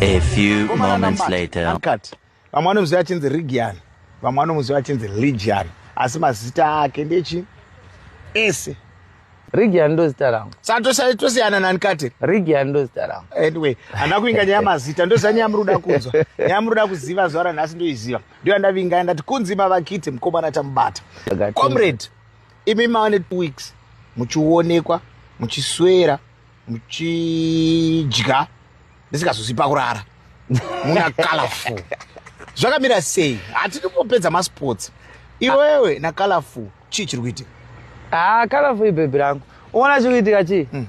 A few moments later. Uncut. Vamwe vanomuziva achinzi Rigian, vamwe vanomuziva achinzi Ligian, asi mazita ake ndechi ese. Rigian ndo zita rangu. Saka tosiyana nani kati? Rigian ndo zita rangu. Anyway, handina kuinga nyaya mazita, ndoziva nyaya muri kuda kunzwa. Nyaya muri kuda kuziva zuva ranhasi ndoiziva. ndiyo andavinga ndati kunzi mavakiti mukomana tamubata comrade imi mava netwo weeks muchionekwa muchiswera muchidya ndisingazosi pakurara muna colorful zvakamira sei hatidi kupedza masports iwewe na colorful chii chiri kuitika ah, kala fui bhebhi rangu uona chiri kuitika chii hmm.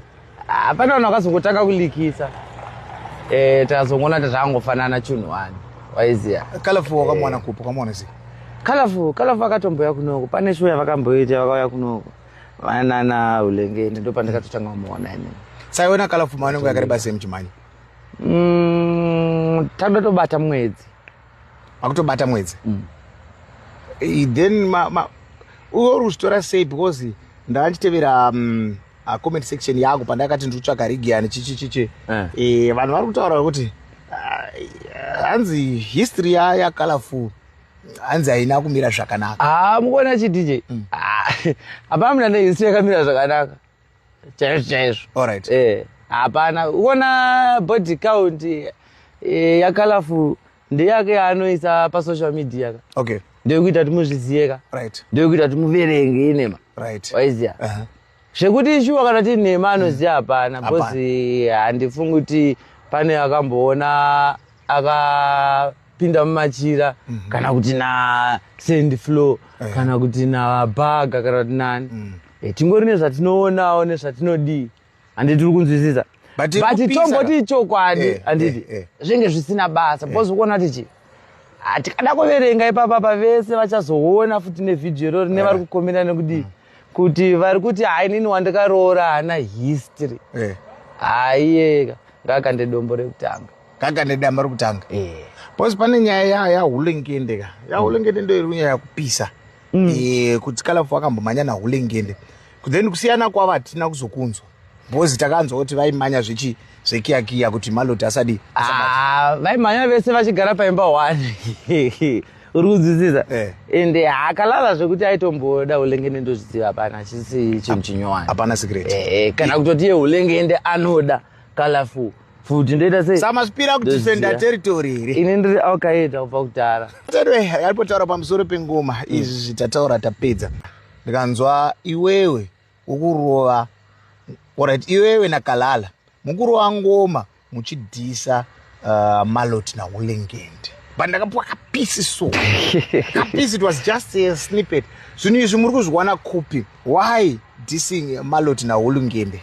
ah, pane vanhu vakazongotanga kulikisa eh, takazongoona kuti zvakangofanana chunhu wani waiziva kala fui wakamwana eh. kupi wakamwana sei kalafu kalafu akatomboya kunoko pane shuwa yavakamboita vakauya kunoko vanana ulengeni ndo pandakatotanga kumuona ini saiona kalafu maonengo yakareba sei muchimhanya mm, tandatobata mwedzi akutobata mwedzi mm. then ma, ma, uyo uri kuzvitora sei because ndava ndichitevera um, uh, comment section yangu pandakati ndiri kutsvaga rigiani chichichichi eh. eh, vanhu vari kutaura kuti uh, hanzi uh, history yayacolorful hanzi haina kumira zvakanaka ah, mukuona chidj mm. ah, hapana mna nehistory yakamira zvakanaka chaizvo chaizvo Alright. eh hapana uona body count eh, yakalafu ndeyake yaanoisa pasocial media ka okay ndoyekuita kuti muzvizive ka right ndoyekuita kuti muverenge inema right waiziya Uh-huh. zvekuti shuwa kana tiri nhema anoziva hapana Hapana. bcoz handifungi kuti pane akamboona akapinda mumachira kana kuti na sand flow kana kuti na baga kana kuti nani Eh, tingori nezvatinoonawo nezvatinodii handi tiri kunzwisisa But tiri but kupisa. tomboti ichokwadi Eh, handiti eh, eh. zvinge zvisina basa because ukuona kuti chii Ah, tikada kuverenga ipapa pa vese vachazoona futi nevhidhiyo irori nevari kukomenda nekudii kuti vari kuti hai nini wandikaroora haana history Eh. haiyeka ngakande dombo rekutanga kaka nedamba rokutanga Eh. bcause pane nyaya ya- yahulengende ka yahulengende ndo iri nyaya yakupisa mm. e, kuti kalafu akambomhanya nahulengende then kusiyana kwavo hatina kuzokunzwa bhozi takanzwa kuti vaimanya zvechi zvekiyakiya kuti maloti asadi ah, vaimhanya vese vachigara paimba one uri kunzwisisa eh. and eh, akalala zvekuti aitomboda ulengende ndozviziva hapana achisi chinhu chinyowani hapana secret eh, kana kutoti ye ulengende anoda colorful futi ndoita sei samasipira kudefenda territory here ini ndiri alkaeda kubva kudhara anyway yalipotaura pamusoro pengoma mm. izvi tataura tapedza ndikanzwa iwewe ukurova orit iwewe nakalala mukurova ngoma muchidhisa uh, malot naulengende but ndakapiwa kapisi so kapisi it was just a snippet zvinhu izvi muri kuzviwana kupi why dissing malot naulengende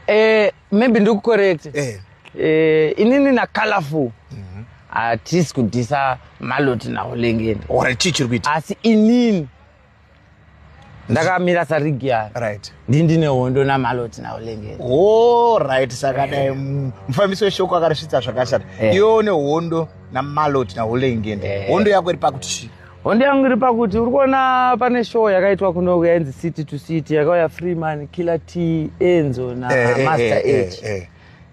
eh, maybe ndiri kucorrect eh. eh, inini nacolorful mhm. hatisi mm -hmm. kudhisa maloti naholengeni or chii chiri kuita asi inini ndakamira sarigi ya right ndi ndine hondo namaloti naulengeni o oh, right saka dai eh. mufambisi weshoko akarisvitsa zvakashata eh. iwe une hondo namaloti naulengeni eh. hondo yako iri pakuti chii hondo yangu iri pakuti uri kuona pane show yakaitwa kunoku yainzi city to city yakauya freeman killer t enzo namaster eh, eh, eh, age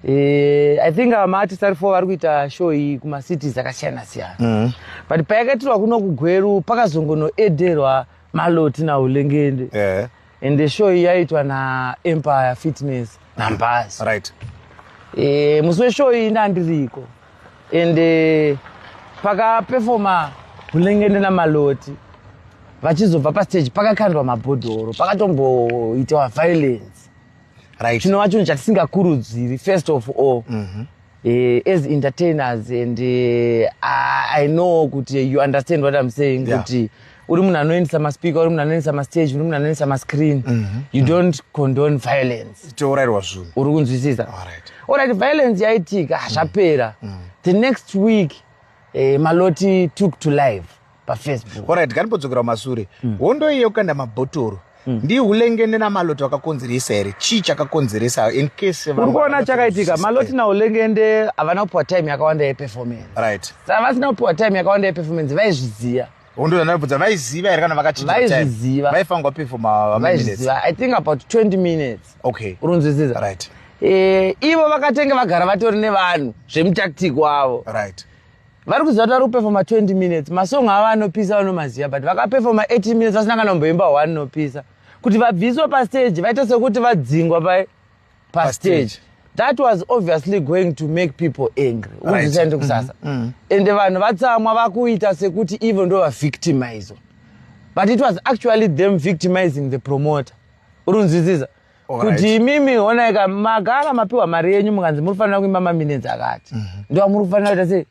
Eh, i think uh, maartist ari four vari kuita show iyi kumacities akasiyana siyana mm. but payakaitirwa kuno kugweru pakazongonoederwa maloti naulengende yeah. and the show iyi yaitwa naempire fitness numbers right e, musi weshow iyi ndandiriko and eh, pakapefoma hulengende namaloti vachizobva pastage pakakandwa mabhodhoro pakatomboitawa violence right chinova chinhu chatisingakurudziri first of all mm -hmm. Uh, as entertainers and uh, i know kuti you understand what i'm saying yeah. kuti uri munhu anoendesa maspeaker uri munhu anoendesa mastage uri munhu anoendesa mascreen mm -hmm. you mhm. don't condone violence tourairwa zvinhu uri kunzwisisa orit violence yaitika hazvapera mm. mm. the next week eh, maloti took to life pafacebook orit kanipodzokera kumasure mm. hondo iye yokukanda mabhotoro mm. ndi hulengende namaloto akakonzeresa here chii chakakonzeresa in case uri kuona chakaitika maloti naulengende havana kupiwa time yakawanda yeperformance right saka vasina kupiwa time yakawanda yeperformance vaizviziva hondo yandaibvudza vaiziva here kana vakachivaiziva vaifanirwa pefoma vaiziva i think about 20 minutes okay urunzwisisa right e, ivo vakatenge vagara vatori nevanhu zvemutactic wavo right vari kuziva kuti vari kupefoma 20 minutes masong avo anopisa vanomaziva but vakapefoma 18 minutes vasina kana kumboimba one nopisa kuti vabviswe pastage vaite sekuti vadzingwa pa pastage that was obviously going to make people angry uzisaende kusasa mm-hmm. mm. ende vanhu vatsamwa vakuita sekuti ivo ndo vavictimizwa but it was actually them victimizing the promoter urunzwisisa kuti imimi honaika magara mapiwa mari yenyu mukanzi muri kufanira kuimba maminenzi akati mhm. ndo amuri kufanira kuita sei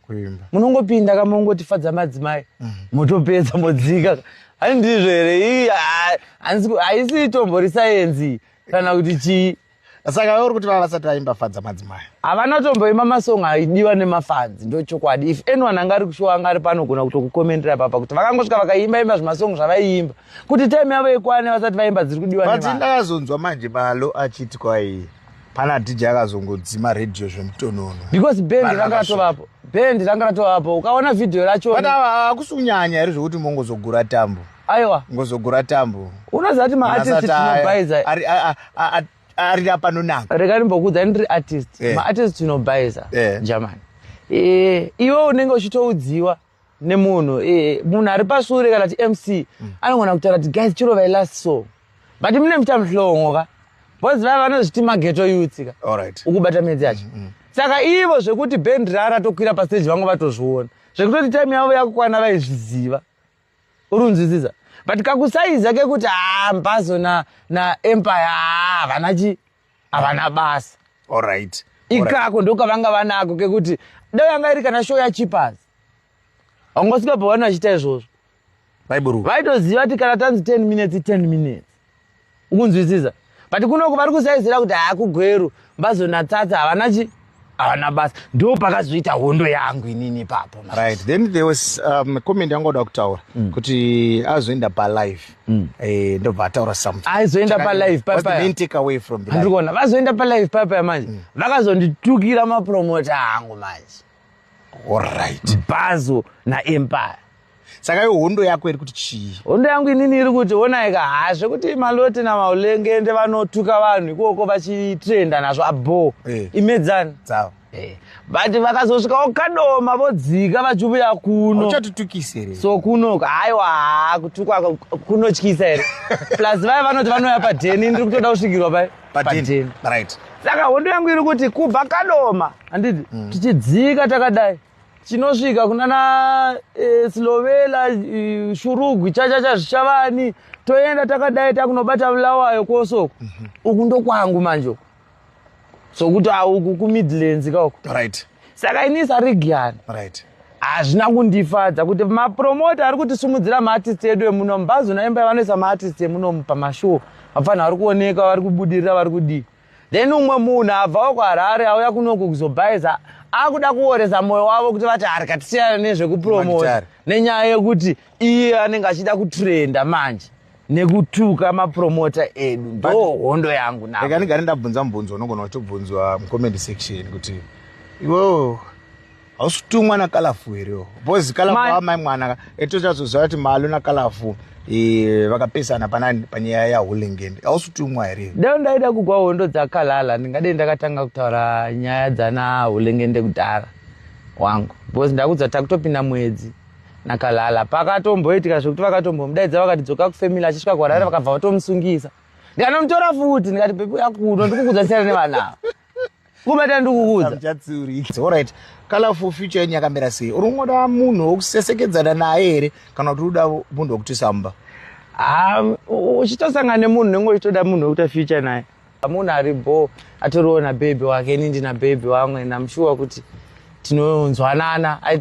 munongopinda ka mongotifadza madzimai mhm. motopedza modzika hai ndizvo here haisi itombo risayenzi kana kuti chii saka uri kuti vava vasati vaimba fadza madzimai havana tomboimba masong aidiwa nemafanzi ndo chokwadi if anyone anga ari kushowa anga ari panogona kutokukomendera papa kuti vakangosvika vakaimba imba zvemasong zvavaiimba kuti time yavo ikwane vasati vaimba dziri kudiwa but ndakazonzwa manje malo achiti kwaiye pana dj akazongodzima radio zvemutonono because band ranga ratovapo band ranga ratovapo ukaona vhidhiyo racho but ava akusi kunyanya here zvekuti mongozogura tambo aiwa ngozogura tambo unoziva kuti maartist tinobaiza ari apanonaka rega ndimbokuudza ndiri artist eh. maartist tinobaiza eh. jamani eh, iwe unenge uchitoudziwa nemunhu eh, munhu ari pasure kana ti mc mm. anogona kutaura kuti guys chiro vai last so but mune muita muhlongo ka bcause vava vanozviti mageto yutsika ukubata midzi yacho mm, mm. saka ivo zvekuti band rara tokwira pasteji vanga vatozviona zvekutoti time yavo yakukwana vaizviziva uri unzwisisa but kakusaiza kekuti haa ah, mbazo naempire haa ah, vanachi havana basa alright ikako ndokavanga vanako kekuti dai yanga iri kana show yachipas haungosvika pavanhu vachiita izvozvo baiburu vaitoziva kuti kana tanzi 10 minutes 10 minutes ukunzwisisa but kunoko vari kusaizira kuti haakugweru mbazonatsatsa havana chi havana basa ndo pakazoita hondo yangu inini ipapo right then there was um, comment yanga oda kutaura mm. kuti azoenda palive mm. eh, ndobva ataura something aizoenda palive papaaandikuona vazoenda palive papaya manje mm. vakazonditukira mapromota angu manje allright bhazo naempire saka yo hondo yako iri kuti chii hondo yangu inini iri kuti onaika haa zvekuti maloti namaulengende vanotuka vanhu ikoko vachitrenda nazvo abho hey. Eh. imedzani dzavo eh, but vakazosvika okadoma vodzika vachiuya kuno uchatitukisa here so kuno haiwa haa kutukwa kunotyisa here plus vaya vanoti vanouya padheni ndiri kutoda kusvikirwa pai padheni right saka hondo yangu iri kuti kubva kadoma handiti mm. tichidzika takadai chinosvika kunana e, slovela e, shurugwi chachacha zvichavani toenda takadai takunobata vulawayo kosoko mm -hmm. uku ndokwangu manje uku sokuti auku kumidlands kauko right saka ini sarigiani right hazvina kundifadza kuti mapromota ari kutisimudzira maartist edu emuno mubhazi unaimba vanoisa maartist emuno pamashow vafanha vari kuoneka vari kubudirira vari kudii Then umwe munhu abvawo kwaHarare auya kunoku kuzobhaiza akuda kuoresa mwoyo wavo kuti vati hari katisiyana nezvekupromota nenyaya yekuti iye anenge achida kutrenda manje nekutuka mapromota edu ndo hondo yangu naeka ndigare ndabvunza mubvunzo unogona kutobvunzwa mucomment section kuti iwoo hausi kutumwa nakalafu here oh? bcause kalafu amai mwana etochazoziva kuti malo nakalafu e, vakapesana panani panyaya yahulingend hausi kutumwa here dai ndaida kugwa hondo dzakalala ndingadei ndakatanga kutaura nyaya dzana hulingende kudhara wangu bcause ndakudza takutopinda mwedzi nakalala pakatomboitika zvekuti vakatombomudaidza vakati dzoka kufamily achisvika kuharare vakabva vatomusungisa ndikanomutora futi ndikati pepi akuno ndikukudzasiyana nevanavo kubata ndikukuudzaoriht colorful future yenyu yakamira sei uri kungoda munhu wokusesekedzana naye here kana kuti uda munhu wokutisamba uchitosangana nemunhu nenge uchitoda munhu wekuita future naye munhu ari bo atoriwo nabhebhi wake ini ndina bhebhi wamwe namushuwa kuti tinonzwanana